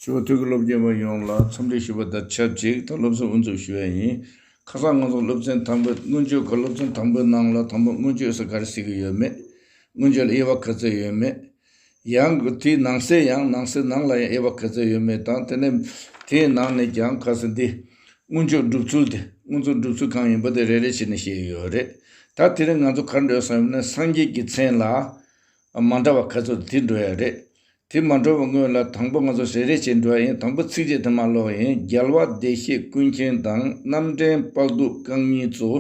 ཆུ་བོ་ཐུགས་ཀྱི་སློབ་དགེ་བ་ཡོངས་ལ་འཚམས་འདྲི་ཞུ་བ་དང་ཆབས་ཅིག་ད་སློབ་གསོ་དབུ་འཛུགས་ཞུ་ཡ་ཡིན། ཁ་སང་ང་ཚོ་སློབ་ཚན་དང་པོའི་སྔོན་བརྗོད་ག་སློབ་ཚན་དང་པོའི་ནང་ལ་དང་པོ་སྔོན་བརྗོད་ས་ག་རེ་ཟེར་གྱི་ཡོད་མེད། སྔོན་བརྗོད་ལ་དབྱེ་བ་ག་ཚོད་ཡོད་མེད། ཡང་དེའི་ནང་གསེས་ཡང་ནང་གསེས་ནང་ལ་ཡང་དབྱེ་བ་ག་ཚོད་ཡོད་མེད་དང་དེ་ནས་དེའི་ནང་ནས་ཀྱང་ག་ཚོད་འདི། སྔོན་བརྗོད་སྒྲུབ་ཚུལ་དེ་སྔོན་བརྗོད་སྒྲུབ་ཚུལ་གང་ཡིན་པ་དེ་རེ་རེ་བྱས་ནས་བཤད་ཡོད་རེད། ད་དེ་རིང་ང་ཚོ་གར་འགྲོ་ཡོད་སམ་ཡོད་ན་སངས་རྒྱས་ཀྱི་མཚན་ལ། མ་འདྲ་བ་ག་ཚོད་དུ་དེ་འགྲོ་ཡ་རེད། དེ་མ་འགྲོ་བའི་སྔོན་ལ་དང་པོ་ང་ཚོ་ཞལ་རས་ཆེ་འགྲོ་ཡ་ཡིན་དང་པོ་ཚིགས་བཅད་དེ་མ་ཀློག་ཡིན་རྒྱལ་བ་བདེ་གཤེགས་ཀུན་མཁྱེན་དང་རྣམ་འདྲེན་དཔག་སྡུག་རྐང་གཉིས་གཙོ།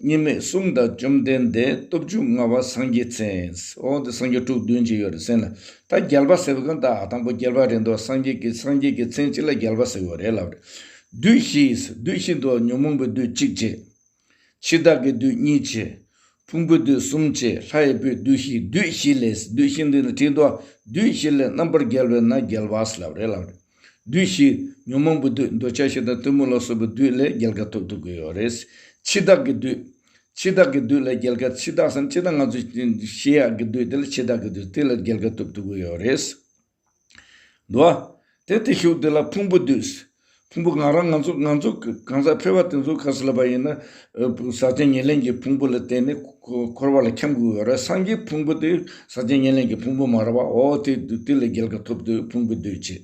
གཉིས་མེད་གསུམ་དང་བཅོམ་ལྡན་འདས་སྟོབས་བཅུ་མངའ་བ་སངས་རྒྱས་མཚན། འོ་དེ་སངས་རྒྱས་དྲུག་བདུན་ཅིག་ཡོད་རེད་སེམས་ལ། ད་རྒྱལ་བ་ཟེར་བ་གང་ད་དང་པོ་རྒྱལ་བ་རེད་འདུག་སངས་རྒྱས་ཀྱི་སངས་རྒྱས་ཀྱི་མཚན་གཅིག་ལ་རྒྱལ་བ་ཟེར་བ་རེད་ལབ་རེད། བདུད་བཞི་བདུད་བཞི་འདུག་ཉོན་མོངས་པའི་བདུད་གཅིག་རྗེ། འཆི་བདག་གི་བདུད་གཉིས་བྱེད། ཕུང་པོའི་བདུད་གསུམ་བྱེད་ལྷ་ཡི་བུའི་བདུད་བཞི་བདུད་བཞི་ལས་བདུད་བཞི་འདི་ནི་དྲིལ་བསྡུ་བ་བདུད་བཞི་ལས་རྣམ་པར་རྒྱལ་བས་ན་རྒྱལ་བ་སླ་བ་རེད་ལབ་རེད། བདུད་བཞི་ཉོན་མོངས་པའི་བདུད་འདོད་ཆགས་ཞེ་སྡང་གཏི་མུག་ལ་སོགས་པའི་བདུད་ལས་རྒྱལ་ཁ་ཐོབ་ཐུབ་གི་ཡོད་རེད། འཆི་བདག་གི་བདུད། འཆི་བདག་གི་བདུད་ལས་རྒྱལ་ཁ་འཆི་བདག་སམ་འཆི་བདག་ང་ཚོས་ཤེས་ཡག་གི་བདུད་དེ་ལས་འཆི་བདག་གི་བདུད་དེ་ལས་རྒྱལ་ཁ་ཐོབ་ཐུབ་གི་ཡོད་རེད། འགྲོ་བ། དེ་དེ་ཤུགས་དེ་ལ་ཕུང་པོ་འདུས། ཕུང་པོ་ང་རང་ང་ཚོ་ང་ཚོ་གང་ཟག་ཕལ་བ་དེ་ཚོ་ཁ་ཟས་ལ་བབས་ཡིན་ན། ཟག་བཅས་ཉེར་ལེན་གྱི་ཕུང་པོ་ལ་བརྟེན་ནས་འཁོར་བ་ལ་འཁྱམས་དགོས་པ་རེད་སངས་རྒྱས་ཕུང་པོ་དེ་ཟག་བཅས་ཉེར་ལེན་གྱི་ཕུང་པོ་མ་རེད་པ་འོ་དེ་དུས་ལ་རྒྱལ་ཁ་ཐོབ་དུས་ཕུང་པོ་འདུས་བྱས།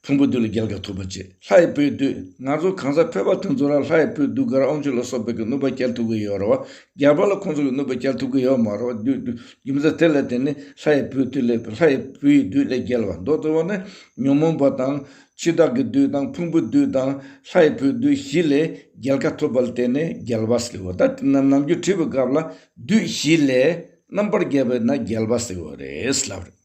ཕུང་པོ་དུས་ལ་རྒྱལ་ཁ་ཐོབ་པ་བྱས་ལྷ་ཡི་བུ་དུས་ང་ཚོ་གང་ཟག་ཕལ་བ་དེ་ཚོ་རང་ལྷ་ཡི་བུ་གདུགས་དཀར་ཨོང་ཆུ་ལ་སོགས་པའི་གནོད་པ་བསྐྱལ་ཐུབ་ཀྱི་ཡོད་རེད་བ་རྒྱལ་བ་ལ་ཁོང་ཚོ་གི་གནོད་པ་བསྐྱལ་ཐུབ་ཀྱི་ཡོད་མ་རེད་བ་དུས་རྒྱུ་མཚན་དེ་ལས་དེ་ནི་ལྷ་ཡི་བུའི་བདུད་ལས་ལྷ་ཡི་བུ་ཡི་བདུད་ལས་རྒྱལ་བ་མདོ་སྡེ་བ་ནི་ཉོན་མོངས་པ་དང་འཆི་བདག་གི་བདུད་དང་ཕུང་པོའི་བདུད་དང་ལྷ་ཡི་བུའི་བདུད་བཞི་ལས་རྒྱལ་ཁ་ཐོབ་པ་ལ་བརྟེན་ནས་རྒྱལ་བ་ཟེར་བ་དང་དེ་རྣམས་ནམ་རྒྱུན་བྲིས་པའི་སྐབས་ལ་བདུད་བཞི་ལས་རྣམ་པར་རྒྱལ་བས་ན་རྒྱལ་བ་ཟེར་བ་རེད་ལབ།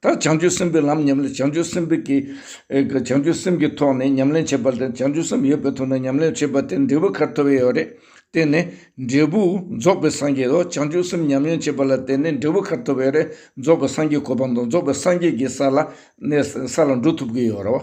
ད་བྱང་ཆུབ་སེམས་དཔའི་ལམ་ཉམས་ལེན་བྱང་ཆུབ་སེམས་དཔའ་གྱིས་བྱང་ཆུབ་སེམས་ཀྱི་ཐོག་ནས་ཉམས་ལེན་བྱེད་པ་དང་བྱང་ཆུབ་སེམས་ཡོད་པའི་ཐོག་ནས་ཉམས་ལེན་བྱེད་པ་དེ་འབྲས་བུ་ཁར་ཐོབ་ཡས་ཡོད་རེད། དེ་ནི་འབྲས་བུ་རྫོགས་པའི་སངས་རྒྱས་དང་བྱང་ཆུབ་སེམས་ཉམས་ལེན་བྱེད་པ་ལ་བརྟེན་ནས་འབྲས་བུ་ཁར་ཐོབ་ཡས་རེད་རྫོགས་པའི་སངས་རྒྱས་གོ་འཕང་དང་རྫོགས་པའི་སངས་རྒྱས་ཀྱི་ས་ལ་འགྲོ་ཐུབ་ཀྱི་ཡོད་རེད།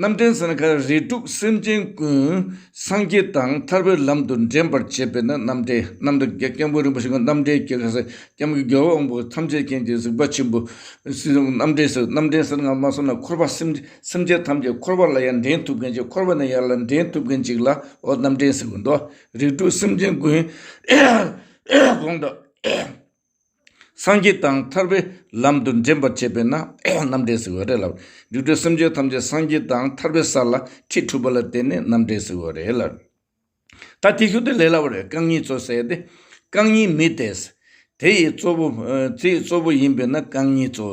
རྣམ་འདྲེན་ས་ནི་ཁ་རལ་དྲུག་སེམས་ཅན་ཀུན། སངས་རྒྱས་དང་ཐར་པའི་ལམ་དུ་འདྲེན་པར་བྱེད་པས་ན་རྣམ་འདྲེན་རྣམ་འདྲེན་གྱི་སྐྱེས་བུ་རིན་པོ་ཆེ་ཀུན་རྣམ་འདྲེན་གྱི་ཁ་ཟས་སྐྱེམས་ཀྱི་རྒྱལ་པོ་དབང་པོ་ཐམས་ཅད་མཁྱེན་གྱི་གཟིགས་པ་ཆེན་པོ། རྣམ་འདྲེན་སོགས་རྣམ་འདྲེན་ས་སྔ་མ་སོ་ན་འཁོར་བ་སེམས་ཅན་ཐམས་ཅད་འཁོར་བ་ལ་ཡང་འདྲེན་ཐུབ་མཁན་གཅིག་འཁོར་བ་ནས་ཡར་ལ་འདྲེན་ཐུབ་མཁན་གཅིག་ལ་འོ་རྣམ་འདྲེན་ཟེར་དགོས་འདོད། རིགས་དྲུག་སེམས་ཅན་ཀུན། གོང་དུ། སངས་རྒྱས་དང་ཐར་པའི་ལམ་དུ་འདྲེན་པར་བྱེད་པས་ན་རྣམ་འདྲེན་ཟེར་བ་རེད་ལ། རིགས་དྲུག་སེམས་ཅན་ཐམས་ཅད་སངས་རྒྱས་དང་ཐར་པའི་ས་ལ་ཁྲིད་འཁྲུལ་པ་ལ་བརྟེན་ནས་རྣམ་འདྲེན་ཟེར་བ་རེད་ལ། ད་དེ་ཤུགས་དེ་ལས་སླ་བ་རེད་རྐང་གཉིས་གཙོ་བསད་དེ། རྐང་གཉིས་མི་དེས། དེ་ཡི་གཙོ་བོ། དེ་ཡི་གཙོ་བོ་ཡིན་པས་ན་རྐང་གཉིས་གཙོ།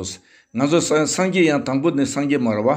ང་ཚོ་སངས་རྒྱས་ཡང་དང་པོ་ནི་སངས་རྒྱས་མ་ར་བ།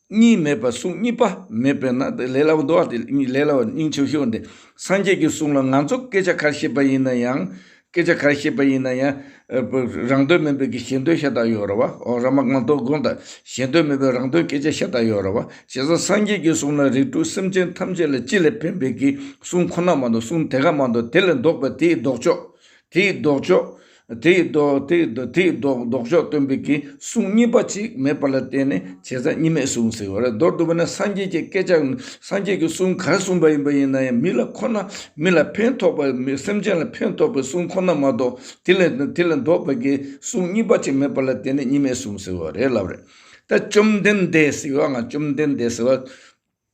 གཉིས་མེད་པར་གསུང་གཉིས་པ་མེད་པས་ན་དེ་ལས་སླ་བོ་འདུག་དེ་ལས་སླ་བ་སྙིང་ཆེ་ཤོས་དེ་སངས་རྒྱས་ཀྱི་གསུང་ལ་ང་ཚོ་སྐད་ཆ་གར་བཤད་པ་ཡིན་ན་ཡང། སྐད་ཆ་གར་བཤད་པ་ཡིན་ན་ཡང། རང་དོན་མིན་པའི་གི་གཞན་དོན་ཤ་སྟག་ཡོད་རེད་བ། ཨོ་ར་མ་ང་དོ་དགོང་དང་གཞན་དོན་མིན་པའི་རང་དོན་སྐད་ཆ་ཤ་སྟག་ཡོད་རེད་བ། བྱས་ཙང་སངས་རྒྱས་ཀྱི་གསུང་ལ་རིགས་དྲུག་སེམས་ཅན་ཐམས་ཅད་ལ་སྤྱི་ལས་ཕན་པའི་གི་གསུང་ཁོ་ན་མ་འདུག་གསུང་དེ་ག་མ་འདུག་དེ་ལས་ལྡོག་པའི་དེའི་ལྡོག་ཕྱོགས། དེའི་ལྡོག་ཕྱོགས། དེའི་ལྡོག་ཕྱོགས་སྟོན་པའི་གི་གསུང་གཉིས་པ་ཅིག་མེད་པ་ལ་བརྟེན་ནས་བྱས་ཙང་གཉིས་མེད་གསུང་ཟེར་བ་རེད་མདོར་བསྡུ་བ་ན་སངས་རྒྱས་ཀྱི་སྐད་ཆ་སངས་རྒྱས་ཀྱི་གསུང་གར་གསུངས་པ་ཡིན་པ་ཡིན་ན་ཡང་མི་ལ་ཁོ་ན་མི་ལ་ཕན་ཐོགས་པ་སེམས་ཅན་ལ་ཕན་ཐོགས་པའི་གསུང་ཁོ་ན་མ་གཏོགས་དེ་ལ་ལྡོག་པའི་གི་གསུང་གཉིས་པ་ཅིག་མེད་པ་ལ་བརྟེན་ནས་གཉིས་མེད་གསུང་ཟེར་བ་རེད་ལབ་རེད་ད་བཅོམ་ལྡན་འདས་ཟེར་བ་ང་བཅོམ་ལྡན་འདས་ཟེར་བ།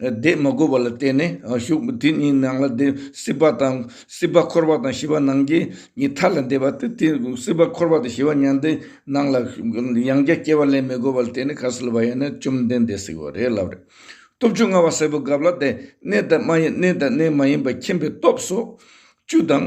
བཟླས་མ་དགོས་པ་ལ་བརྟེན་ནས་གཞུག་དེ་གཉིས་ནང་ལ་བཟླས་སྲིད་པ་དང་སྲིད་པ་འཁོར་བ་དང་ཞི་བ་ནང་རྐྱེན་གཉིས་མཐའ་ལ་འདེབས་པ་སྟེ་དེ་སྲིད་པ་འཁོར་བ་དང་ཞི་བ་མྱང་འདས་ནང་ལ་ཡང་བརྒྱ་སྐྱེ་བ་ལེན་མི་དགོས་པ་ལ་བརྟེན་ནས་གར་སིལ་བ་ཡང་ན་བཅོམ་ལྡན་འདས་སྲིད་པ་རེད་ལབ་རེད། སྟོབས་བཅུ་མངའ་བ་སེར་པོ་འགབ་ལ་བཟླས་གནས་དང་མ་གནས་དང་གནས་མ་ཡིན་པ་མཁྱེན་པའི་སྟོབས་སོགས་བཅུ་དང།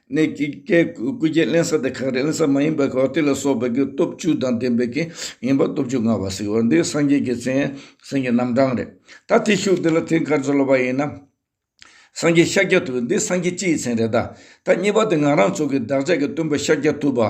གནས་ཀྱི་བཀས་བཀོད་རྒྱུད་གླེང་ས་དེ་གངས་རི་གླིང་ས་མ་ཡིན་པར་གངས་ཏི་ལ་སོགས་པའི་གུ་སྟོབས་བཅུ་དང་ལྡན་པའི་གངས་ཡིན་པ་སྟོབས་བཅུ་མངའ་བ་གཟིགས་བ་འདི་སངས་རྒྱས་ཀྱི་མཚན་སེམས་ཀྱི་རྣམ་གྲངས་རེད་ད་དེ་བཞུགས་འདི་ལ་དེ་གར་འཛོལ་བ་ཡིན་ན། སངས་རྒྱས་ཤཱཀྱ་ཐུབ་པ་འདི་སངས་རྒྱས་སྤྱི་ཡི་མཚན་རེད་ད། ད་གཉིས་པ་དེ་ང་རང་ཚོ་གི་བདག་ཅག་གི་སྟོན་པ་ཤཱཀྱ་ཐུབ་པ།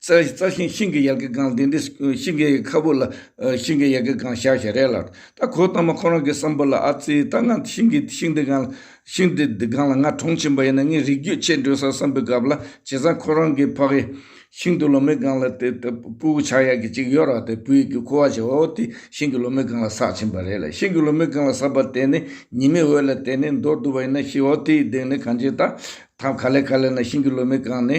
རྩྭ་ཤིང་ཤིང་གི་ཡལ་གའི་སྒང་དེ་འདྲའི་ཤིང་གའི་ཁ་བུ་ལ་ཤིང་གའི་ཡལ་གའི་སྒང་བཞག་བཞག་རེད་ལ། ད་གོ་ཐང་མ་ཁོ་རང་གི་བསམ་བོ་ལ་ཨ་ཙི་ད་ང་ཤིང་གི་ཤིང་འདི་སྒང་ཤིང་འདི་སྒང་ལ་ང་གྲོངས་ཕྱིན་པ་ཡིན་ན་ངའི་རིགས་རྒྱུད་ཆད་འགྲོས་སར་བསམ་པའི་སྐབས་ལ་བྱས་ཙང་ཁོ་རང་གི་ཕ་གི་ཤིང་དུ་ལོ་མའི་སྒང་ལ་དེ་ལྟ་བུ་བྱ་ཡག་གི་ཅིག་ཡོད་རག་དེ་བུ་ཡིག་གི་ཁུ་བ་བྱས་བ་བོ་དེ་ཤིང་གི་ལོ་མའི་སྒང་ལ་བསགས་ཕྱིན་པ་རེད་ལ་ཤིང་གི་ལོ་མའི་སྒང་ལ་བསགས་པ་དེ་ནི་ཉི་མའི་འོད་ལ་དེད་ནས་འདོར་འདུག་པ་ཡིན་ན་ཤི་བ་བོ་དེའི་གདེང་ནི་གང་ཆེ་ད་ཐག་ག་ལེ་ག་ལེ་ན་ཤིང་གི་ལོ་མའི་སྒང་ནི་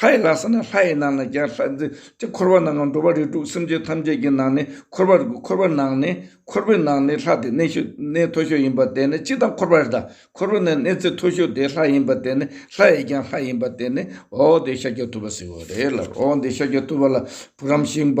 ལྷ་ཡི་ལྷ་ས་ནི་ལྷ་ཡི་ནང་ན་རྒྱ་ལྷ་རྫི་སྟེ་འཁོར་བ་ནང་ང་འགྲོ་བ་རིགས་དྲུག་སེམས་ཅན་ཐམས་ཅད་ཀྱི་ནང་ནས་འཁོར་བར་དགོས་འཁོར་བ་ནང་ནས་འཁོར་བའི་ནང་ནས་ལྷ་དེ་གནས་ཤོས་གནས་མཐོ་ཤོས་ཡིན་པ་དེ་ནི་སྤྱི་དང་འཁོར་བ་རི་དང་འཁོར་བ་ནི་གནས་ཚད་མཐོ་ཤོས་དེ་ལྷ་ཡིན་པ་དེ་ནི་ལྷ་ཡི་རྒྱང་ལྷ་ཡིན་པ་དེ་ནི་འོག་འོག་དེ་ཤཱཀྱ་ཐུབ་པ་ཟེར་བ་རེད་ལར་འོག་འོག་འདི་ཤཱཀྱ་ཐུབ་པ་ལ་བུ་རམ་ཤིང་པ།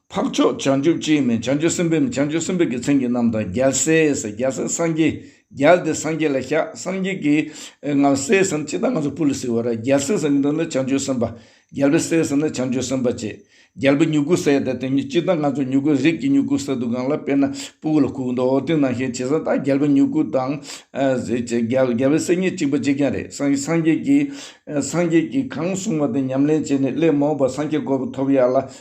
འཕགས་མཆོག་བྱང་ཆུབ་ཀྱིས་ནི་བྱང་ཆུབ་སེམས་དཔའ་མི་བྱང་ཆུབ་སེམས་དཔའི་རྒྱུ་མཚན་གྱི་རྣམས་དང་རྒྱལ་སྲས་སུ་རྒྱལ་སྲས་སངས་རྒྱས་རྒྱལ་དེ་སངས་རྒྱས་ལ་བཤགས་སངས་རྒྱས་ཀྱིས་ང་ལ་སྲས་སམ་ཅི་དང་ང་ཚོ་སྤུ་ལ་སྲིད་བར་རྒྱལ་སྲས་སམ་མི་འདུག་ན་བྱང་ཆུབ་སེམས་དཔའ་རྒྱལ་བའི་སྲས་སུ་ནི་བྱང་ཆུབ་སེམས་དཔའ་ཅེས་རྒྱལ་བུ་མྱུ་གུ་སྲས་དེ་དེ་ཉིད་ཅི་དང་ང་ཚོ་མྱུ་གུ་རིགས་ཀྱི་མྱུ་གུ་སྲས་དུ་གང་ལ་དཔེར་ན་སྤུ་ལ་ཁུག་མདོག་སྟེང་ནང་ཤས་ཆེ་ས་དག་རྒྱལ་བུ་མྱུ་གུ་དང་རྒྱལ་བའི་སྲས་གཉིས་གཅིག་པ་གཅིག་ཀྱང་རེད་སངས་རྒྱས་ཀྱིས་སངས་རྒྱས་ཀྱིས་གང་གསུངས་པ་དེ་ཉམས་ལེན་བྱས་ནས་སླད་མ་འོངས་པར་སངས་རྒྱས་དགོས་པ་ཐོབ་ཡག་ལ་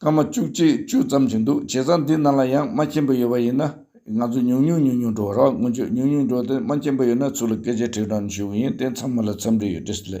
སྐར་མ་བཅུ་གཅིག་བཅུ་ཙམ་གྱི་འདུག་བྱས་ཙང་འདི་རྣམས་ལ་ཡང་རྨ་ཆེན་པོ་ཡོད་པ་ཡིན་ན་ང་ཚོས་ཉུང་ཉུང་ཉུང་ཉུང་འགྲོ་རོགས་སྔོན་ཆད་ཉུང་ཉུང་འགྲོ་དེ་རྨ་ཆེན་པོ་ཡོད་ན་ཚུར་ལ་སྐད་ཆ་དྲིས་དྲངས་ཞུ་གི་ཡིན་དེ་མཚམས་མི་ལ་འཚམས་འདྲི་ཡོད་དྲིས་ལེ།